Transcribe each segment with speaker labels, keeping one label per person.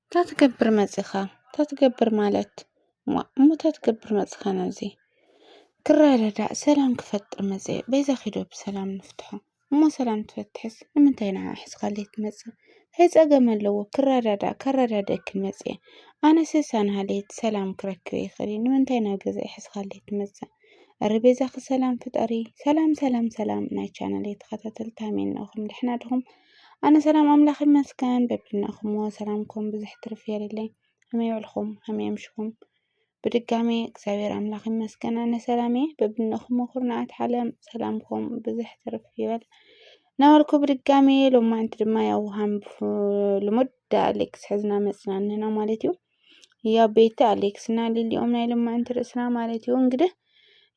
Speaker 1: እንታይ ትገብር መጺኻ እንታይ ትገብር ማለት እሞ እንታይ ትገብር መጺኻ ናብዚ ክረዳዳእ ሰላም ክፈጥር መጸ በይዛ ኺዶ ብሰላም ንፍትሖ እሞ ሰላም ትፈትሕስ ንምንታይ ንዓ ሕዝኻለይ ትመጽእ ታይ ጸገም ኣለዎ ክረዳዳእ ከረዳድኣኪ መጸ ኣነሰ ሳንሃለይት ሰላም ክረክብ ይኽእል እየ ንምንታይ ናብ ገዛይ ሕዝኻለይ ትመጽእ እረ በይዛኺ ሰላም ፍጠሪ ሰላም ሰላም ሰላም ናይ ቻናለይ ተኸታተልቲ ሃመይ እንኣኹም ደሕና ድኹም ኣነ ሰላም ኣምላኽ ይመስገን በብድናኹም ሰላምኩም ብዙሕ ትርፍ የርለይ ከመይ ውዕልኩም ከመይ ኣምሽኩም ብድጋሜ እግዚኣብሔር ኣምላኽ ይመስገን ኣነ ሰላም እየ በብድናኹም ኩርናዓት ዓለም ሰላምኩም ብዙሕ ትርፍ ይበል ናበልኩ ብድጋሜ ሎማንቲ ድማ ያው ሃም ልሙድ ኣሌክስ ሕዝና መፅና ኣለና ማለት እዩ ያው ቤቲ ኣሌክስ እና ሊሊኦም ናይ ልማዕንቲ ርእስና ማለት እዩ እንግዲህ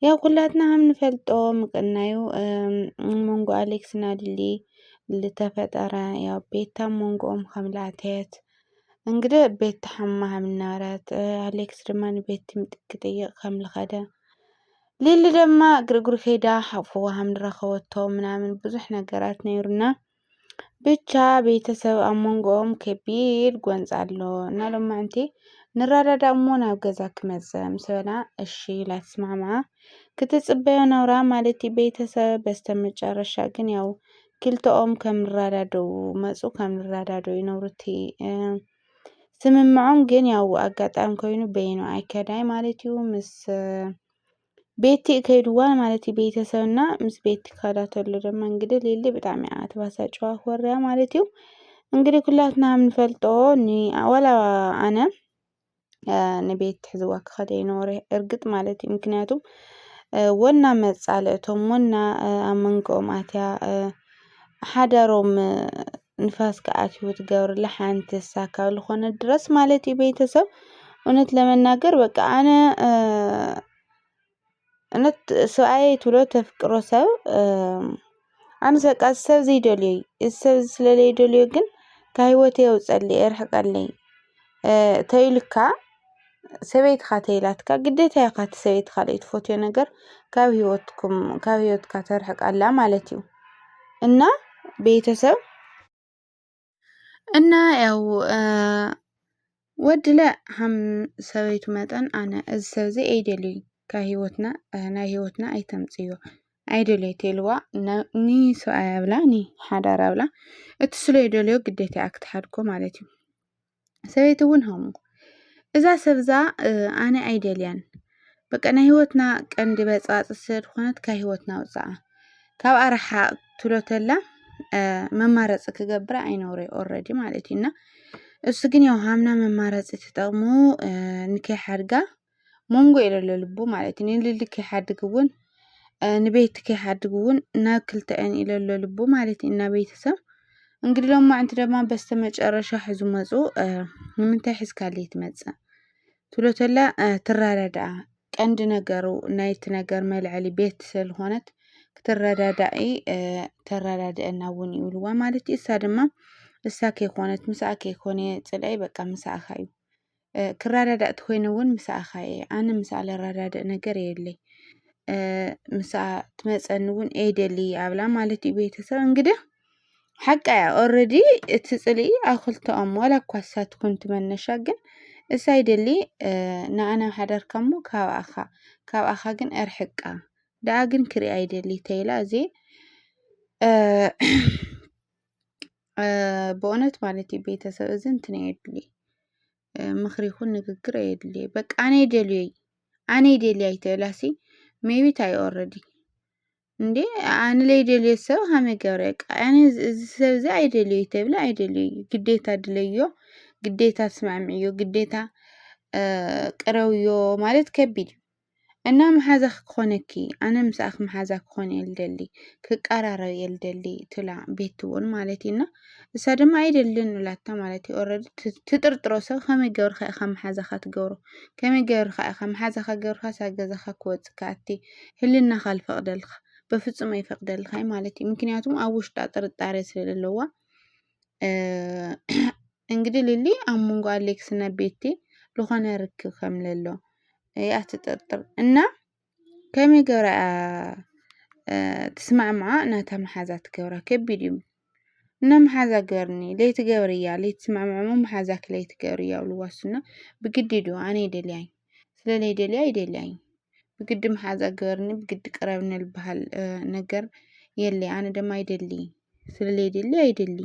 Speaker 1: ያው ኩላትና ከም ንፈልጦ ምቅናዩ መንጎ ኣሌክስ እና ሊሊ ዝተፈጠረ ያው ቤታ መንጎኦም ከም ላእተየት እንግዲህ ቤቲ ሓማ ከም እናበረት ኣሌክስ ድማ ንቤቲ ምጥቂ ጥይቅ ከም ልኸደ ሊሊ ድማ ግርግሩ ከይዳ ሓፍዋ ከም ዝረኸበቶ ምናምን ብዙሕ ነገራት ነይሩና ብቻ ቤተሰብ ኣብ መንጎኦም ከቢድ ጎንፂ ኣሎ እና ሎማዕንቲ ንራዳዳ እሞ ናብ ገዛ ክመፀ ምስ በላ እሺ ኢላ ትስማዕምዓ ክትፅበዮ ነውራ ማለት ቤተሰብ በስተመጨረሻ ግን ያው ክልተኦም ከም ንራዳደኡ መፁ ከም ንራዳደኡ ይነብሩቲ ስምምዖም ግን ያው ኣጋጣሚ ኮይኑ በይኑ ኣይከዳይ ማለት እዩ ምስ ቤቲ ከይድዋ ማለት እዩ ቤተሰብና ምስ ቤቲ ካዳ ተሎ ድማ እንግዲህ ሊሊ ብጣዕሚ እያ ተባሳጭዋ ኮርያ ማለት እዩ እንግዲህ ኩላትና ንፈልጦ ዋላ ኣነ ንቤት ትሕዝዋ ክኸደ ይኖረ እርግጥ ማለት እዩ ምክንያቱም ወና መጻልእቶም ወና ኣብ መንጎኦም ኣትያ ሓዳሮም ንፋስ ክኣትዎ ትገብርላ ሓንቲ እሳ ካብ ዝኾነ ድረስ ማለት እዩ ቤተሰብ እውነት ለመናገር በቃ ኣነ እውነት ሰብኣየ ትብሎ ተፍቅሮ ሰብ ኣነ በቃ እዚ ሰብ እዚ ይደልዮ እዩ እዚ ሰብ እዚ ስለለይደልዮ ግን ካብ ህይወተይ የውፀለይ የርሕቀለይ። ተይልካ ሰበይትኻ ተይላትካ ግዴታ ኢካ እቲ ሰበይቲ ካልኦት ትፈትዮ ነገር ካብ ህይወትኩም ካብ ህይወትካ ተርሕቅ ኣላ ማለት እዩ። እና ቤተሰብ እና ያው ወድለ ሃም ሰበይቱ መጠን ኣነ እዚ ሰብ እዚ ኣይደልዩን ካብ ህይወትና ናይ ህይወትና ኣይተምፅእዮ ኣይደልዮ ተይልዋ ን ሰብኣያ ብላ ን ሓዳራ ብላ እቲ ስለዝደልዮ ግዴታ እያ ክትሓድጎ ማለት እዩ። ሰበይትውን ሃሙ እዛ ሰብዛ ኣነ ኣይደልያን በቃ ናይ ህይወትና ቀንዲ በጽባጽ ስለ ዝኾነት ካብ ህይወትና ኣውጽኣ ካብኣ ርሓቕ ትብሎ ተላ መማረጺ ክገብራ ኣይነብረይ ኦረዲ ማለት እዩ እና እሱ ግን ያው ሃምና መማረጺ ተጠቕሙ ንከይሓድጋ ሞንጎ የለሎ ልቡ ማለት እዩ ንልሊ ከይሓድግ እውን ንቤት ከይሓድግ እውን ናብ ክልተዐን ኢለሎ ልቡ ማለት እዩ እና ቤተሰብ እንግዲህ ሎም ማዕንቲ ደማ በስተ መጨረሻ ሕዙ መፁ ንምንታይ ሒዝካል ትመፅእ ትሎተላ ትራዳድኣ ቀንዲ ነገሩ ናይቲ ነገር መልዐሊ ቤት ስለዝኾነት ክትረዳዳኢ ተረዳድአና እውን ይብልዋ ማለት እዩ እሳ ድማ እሳ ከይኮነት ምሳኣ ከይኮነ ፅልዐይ በቃ ምሳእኻ እዩ ክረዳዳእ ተኾይነ እውን ምሳኣኻ እየ ኣነ ምስኣ ለረዳድእ ነገር የለይ ምስኣ ትመፀኒ እውን ኤደሊ ኣብላ ማለት እዩ ቤተሰብ እንግዲ ሓቃ እያ ኦረዲ እቲ ፅልኢ ኣብ ክልተኦም ዋላ እኳ እሳ ትኩን ትመነሻ ግን እሳ ይደሊ ንኣና ሓዳርካ እሞ ካብኣኻ ካብኣኻ ግን እርሕቃ ደኣ ግን ክሪኣ ይደሊ ተይላ እዚ በእውነት ማለት እዩ ቤተሰብ እዚ እንትን ኣየድሊ ምኽሪ ይኹን ንግግር ኣየድሊ በቃ ኣነ ይደልዮይ ኣነ ይደልያ ኣይተላሲ ሜይቢት ኣይኦረዲ እንዴ ኣንለይደልዮ ሰብ ሃመ ገረቅ ኣነ እዚ ሰብ እዚ ኣይደልዮ ይተብለ ኣይደልዮ ግደታ ድለዮ ግደታ ኣስማዕምዕዮ ግደታ ቅረውዮ ማለት ከቢድ እዩ። እና መሓዛኺ ክኾነኪ ኣነ ምሳኣኺ መሓዛ ክኾን እየ ልደሊ ክቀራረብ እየ ልደሊ ትብላ ቤቲ እውን ማለት እዩ እና እሳ ድማ ኣይደልን ብላታ ማለት እዩ ኦረዲ ትጥርጥሮ ሰብ ከመይ ገብርካ ኢኻ መሓዛኻ ትገብሮ ከመይ ገብርካ ኢኻ መሓዛኻ ገብርካ ሳ ገዛኻ ክወፅእ ከኣቲ ህልናኻ ልፈቅደልካ በፍፁም ኣይፈቅደልካይ ማለት እዩ ምክንያቱም ኣብ ውሽጣ ጥርጣሬ ስለለለዋ እንግዲህ ሊሊ ኣብ መንጎ ኣሌክስ እና ቤቲ ዝኾነ ርክብ ከም ለሎ እያ ትጥርጥር እና ከመይ ገብራ እያ ትስማዕምዓ ናታ መሓዛ ትገብራ ከቢድ እዩ እና መሓዛ ገርኒ ለይትገብር እያ ለይትስማዕምዑሞ መሓዛ ክለይትገብር እያ ብልዋሱና ብግዲ ዶ ኣነ ይደልያኝ ስለለይ ደልያ ይደልያኝ ብግዲ መሓዛ ገርኒ ብግዲ ቅረብኒ ልበሃል ነገር የለ ኣነ ደማ ይደሊ ስለዘይደሊ ኣይደሊ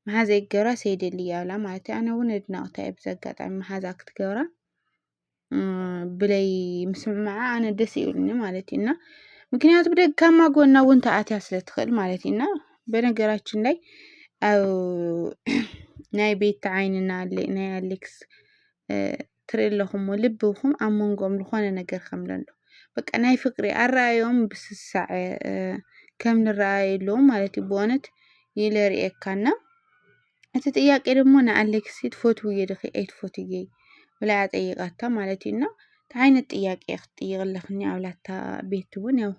Speaker 1: መሓዛ ይገብራ ሰይደሊ ያብላ ማለት እዩ። ኣነ እውን ኣድናቕታ እየ ብዚ ኣጋጣሚ መሓዛ ክትገብራ ብለይ ምስምምዓ ኣነ ደስ ይብልኒ ማለት እዩ እና ምክንያቱ ብደካማ ጎና እውን ተኣትያ ስለትኽእል ማለት እዩ እና በነገራችን ላይ ኣብ ናይ ቤት ዓይንና ናይ ኣሌክስ ትርኢ ኣለኹሞ ልብኹም ኣብ መንጎኦም ዝኾነ ነገር ከምለሎ በቃ ናይ ፍቅሪ ኣረኣዮም ብስሳዐ ከም ንረኣይ ኣለዎም ማለት እዩ ብእውነት ይለ ርእየካና እቲ ጥያቄ ደግሞ ንኣሌክሲ ትፈትውዮ ድኺ ኣይትፈትውየ ብላ እያ ጠይቃታ ማለት እዩ እና እቲ ዓይነት ጥያቄ ክትጥይቅ ኣለክኒ ኣብላታ ቤት እውን ያው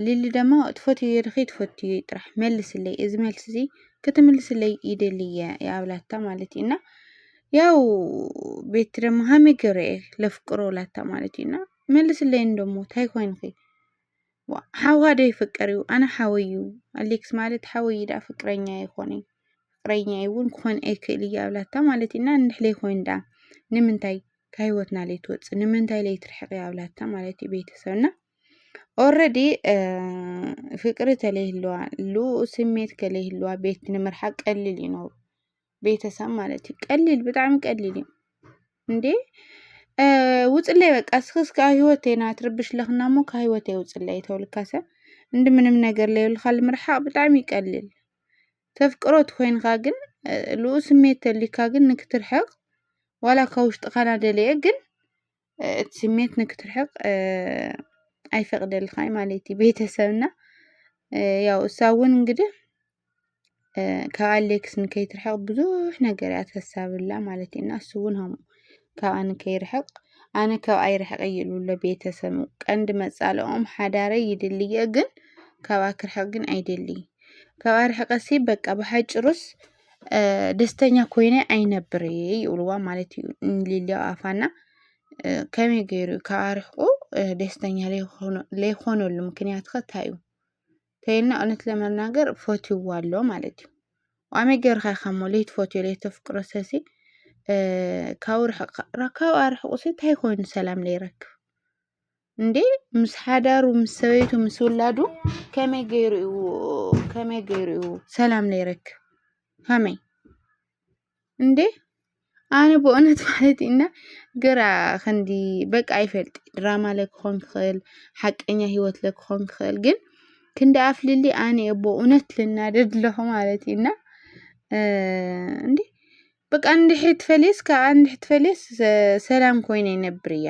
Speaker 1: ሊሊ ደማ ትፈትውዮ ድኺ ትፈትዩ ጥራሕ መልስለይ እዚ መልሲ እዚ ክትምልስለይ ይደልየ የኣብላታ ማለት እዩ እና ያው ቤቲ ደሞ ሃሚ ገረየ ለፍቅሮ ላታ ማለት እዩና መልስለይን ደሞ ታይ ኮይንኺ ሓዋ ዶ ይፍቀር እዩ ኣነ ሓወይ እዩ ኣሌክስ ማለት ሓወይ ዳ ፍቅረኛ ይኾነ ፍቅረኛ እውን ክኾን ኣይክእል እያ ኣብላታ ማለት እዩና እንድሕለይ ኮይን ዳ ንምንታይ ከህይወትና ለይ ትወፅእ ንምንታይ ለይ ትርሕቅ ኣብላታ ማለት እዩ ቤተሰብና ኦረዲ ፍቅሪ ተለይህለዋ ሉ ስሜት ከለይህለዋ ቤት ንምርሓቅ ቀልል ይኖሩ ቤተሰብ ማለት እዩ ቀሊል ብጣዕሚ ቀሊል እዩ እንዴ ውፅለይ በቃ እስኪ እስከ ህይወቴ ና ትርብሽ ለኽና እሞ ካብ ህይወቴ ውፅለይ ተውልካ ሰብ እንዲ ምንም ነገር ለይብልካ ልምርሓቕ ብጣዕሚ ይቀልል ተፍቅሮ ትኮይንካ ግን ልኡ ስሜት ተልዩካ ግን ንክትርሕቕ ዋላ ካብ ውሽጥኻ ናደለየ ግን እቲ ስሜት ንክትርሕቅ ኣይፈቅደልኻይ ማለት እዩ ቤተሰብና ያው እሳ እውን እንግዲህ ካብ ኣሌክስ ንከይትርሕቅ ብዙሕ ነገር እያ ትሕሰብላ ማለት እዩ እና እሱ እውን ም ካብኣ ንከይርሕቅ ኣነ ካብ ኣይርሕቅ እዩ ዝብሎ ቤተሰብ ቀንዲ መፃልኦም ሓዳረይ ይድልየ ግን ካብኣ ክርሕቅ ግን ኣይደልይ ካብኣ ርሕቀሲ በቃ ብሓጭሩስ ደስተኛ ኮይነ ኣይነብር እየ ይብልዋ ማለት እዩ ሊሊ ኣብ ኣፋ እና ከመይ ገይሩ እዩ ካብ ኣርሒቑ ደስተኛ ዘይኮነሉ ምክንያት ከ እንታይ እዩ እንተይልና እውነት ለመናገር ፈትይዎ ኣሎ ማለት እዩ ዋመይ ገይርካ ኢኻ እሞ ለይትፈትዮ ለይተፍቅሮ ሰሲ ካብ ርሕቕ ካብ ኣርሒቑ ሲ እንታይ ኮይኑ ሰላም ለይረክብ እንዴ ምስ ሓዳሩ ምስ ሰበይቱ ምስ ውላዱ ከመይ ገይሩ እዩ ከመይ ገይሩ እዩ ሰላም ዘይረክብ ከመይ እንዴ ኣነ ብእውነት ማለት እና ግራ ክንዲ በቃ ይፈልጥ ድራማ ለክኾን ክኽእል ሓቀኛ ህይወት ለክኾን ክኽእል ግን ክንዲ ኣፍልሊ ኣነ እየ ብእውነት ልናደድ ኣለኹ ማለት እዩ እና እንዴ በቃ እንድሕሪ ትፈልየስ ከዓ እንድሕሪ ትፈልየስ ሰላም ኮይነ ይነብር እያ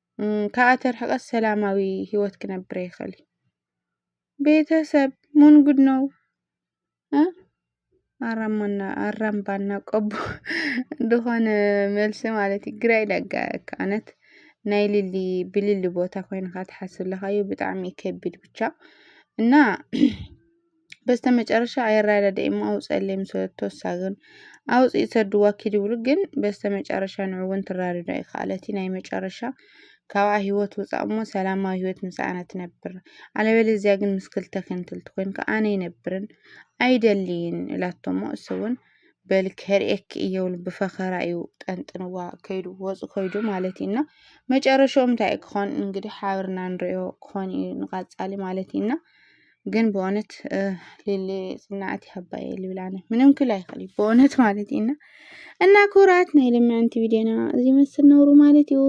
Speaker 1: ካብኣ ተርሕቀስ ሰላማዊ ሂወት ክነብር ኣይክእል እዩ። ቤተሰብ ምን ጉድ ነው? ኣራማና ኣራምባና ቆቦ ዝኾነ መልሲ ማለት እዩ ግራ ይደጋ ኣነት ናይ ልሊ ብልሊ ቦታ ኮይንካ ትሓስብ ለኻዩ ብጣዕሚ ከቢድ ብቻ እና በስተመጨረሻ ኣይረዳድእ'ሞ ኣውጽኣለይ ምስ በለቶ እሳ ግን ኣውጺኡ ሰድዋ ኪድ ይብሉ ግን በስተመጨረሻ ንዑ ውን ትረዳድኦ ኣይከኣለቲ ናይ መጨረሻ ካብኣ ሂወት ውጻእ እሞ ሰላማዊ ሂወት ምስኣና ትነብር ኣለበለዚያ ግን ምስ ክልተ ክንትልቲ ኮይንካ ኣነ ይነብርን ኣይደልይን ኢላቶ እሞ እሱ ውን በል ከርእየኪ እየ ብሉ ብፈኸራ እዩ ጠንጥንዋ ከይዱ ወጹ ከይዱ ማለት እዩና መጨረሻኦም እንታይ ክኾን እንግዲህ ሓብርና ንሪኦ ክኾን እዩ ንቐጻሊ ማለት እዩና ግን ብእውነት ሌሌ ፅናዕት ይሃባ እየ ልብል ኣነ ምንም ክል ኣይኽእል እዩ ብእውነት ማለት እዩ እና እና ክቡራት ናይ ልምዕንቲ ቪድዮና እዚ መስል ነውሩ ማለት እዩ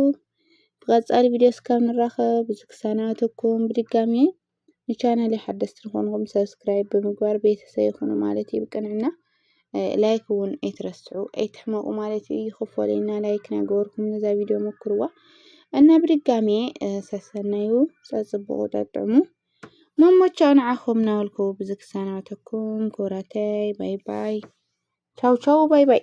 Speaker 1: ብቐፃሊ ቪድዮ እስካብ ንራኸብ ብዙ ክሳናተኩም ብድጋሚ ንቻናል ሓደስቲ ንኾንኩም ሰብስክራይብ ብምግባር ቤተሰብ ይኹኑ ማለት እዩ ብቅንዕና ላይክ እውን ኣይትረስዑ ኣይትሕመቁ ማለት እዩ ይኽፈለና ላይክ ናገበርኩም ነዛ ቪድዮ ሞክርዋ እና ብድጋሚ ሰሰናዩ ፀፅብቑ ጠጥዕሙ መሞቻው ንዓኹም እናበልኩ ብዚ ክሰናበተኩም ክቡራተይ ባይ ባይ ቻው ቻው ባይ ባይ